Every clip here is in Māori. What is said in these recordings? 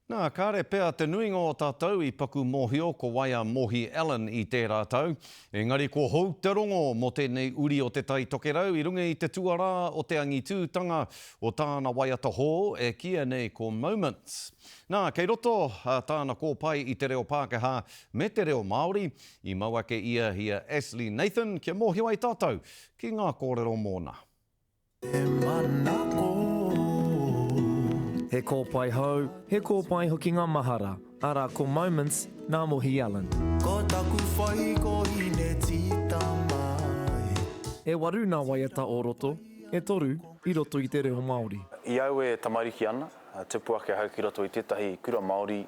Nā, kāre pea te nuinga o tātou i paku mōhio ko wai a Mohi Allen i tērā tau, engari ko hou te rongo mō tēnei uri o Te Tai Tokerau i runga i te tuarā o te angitūtanga o tāna waiata hou e kīia nei ko Moments. Nā, kei roto tāna kōpae i te reo Pākehā me te reo Māori, i mau ake ia i a Ashley Nathan kia mōhio ai tātou ki ngā kōrero mōna. He mana oh. He kōpae hou, he kōpae hoki ngā mahara, arā ko Moments nā Mohi Allen. Ko taku whai ko Hinetitama e. E waru nā waiata o roto, e toru i roto i te reo Māori. I au e tamariki ana, tupu ake ahau ki roto i tētahi kura Māori,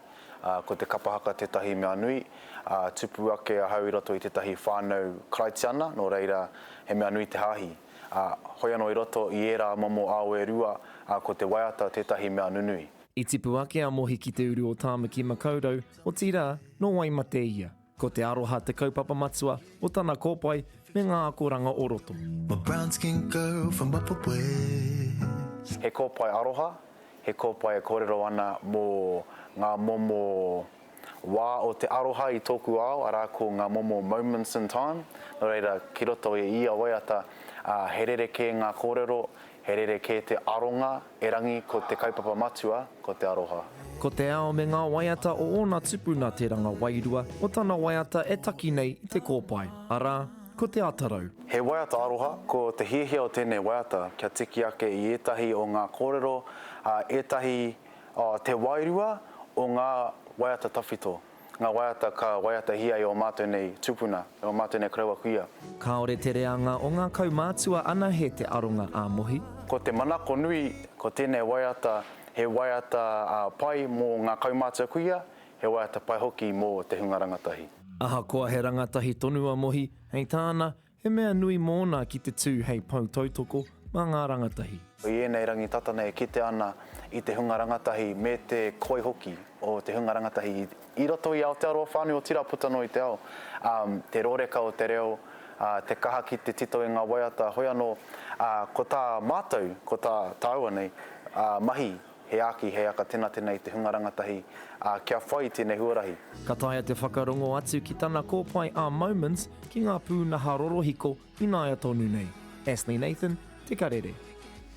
ko te kapa haka tētahi mea nui, ā, tupu ake ahau i roto i tētahi whānau Karaitiana, nō reira, he mea nui te hāhi. ā, hoi anō i roto i ērā momo ao e rua, ā, ko te waiata tētahi mea nunui. I tipu ake a Mohi ki te uru o Tāmaki-makau-rau, otirā, nō wai mate ia. Ko te aroha te kaupapa matua o tana kōpae me ngā akoranga o roto. My brown skinned girl from Upper West. He kōpae aroha, he kōpae e kōrero ana mō ngā momo Wā o te aroha i tōku ao, arā ko ngā momo moments in time, nō reira ki roto i ia waiata, ā, he rerekē ngā kōrero, he rerekē te aronga, erangi ko te kaupapa matua, ko te aroha. Ko te ao me ngā waiata o ōna tupuna te ranga wairua o tana waiata e taki nei i te kōpae, arā, ko Te Atarau. He waiata aroha, ko te hiahia o tēnei waiata kia tiki ake i ētahi o ngā kōrero a ētahi Te wairua o ngā waiata tawhito, ngā waiata ka waiatahia e ō mātou nei tūpuna, e ō mātou nei karaua kuia. Kāore te reanga o ngā kaumātua anahe te aronga ā-mohi. Ko te manako nui, ko tēnei waiata, he waiata pai mō ngā kaumātua kuia, he waiata pai hoki mō te hunga rangatahi. Ahakoa he rangatahi tonu a Mohi, hei tāna, He mea nui mōna ki te tū hei pou tautoko mā ngā rangatahi. I ēnei rangi tata nei e kitea ana i te hunga rangatahi me te koi hoki o te hunga rangatahi i roto i Aotearoa whānui, otirā puta noa i te ao, ā, te rōreka o te reo, ā, te kaha ki te tito i ngā waiata, hoi anō, ā, ko tā mātou, ko tā tāua nei, ā, mahi He aki, he aka tenatena i te hunga rangatahi, ā, kia whai tēnei huarahi. Ka taea te whakarongo atu ki tana kōpae a Moments ki ngā pūnaha rorohiko ināia tonu nei. Ashley Nathan, Te Karere.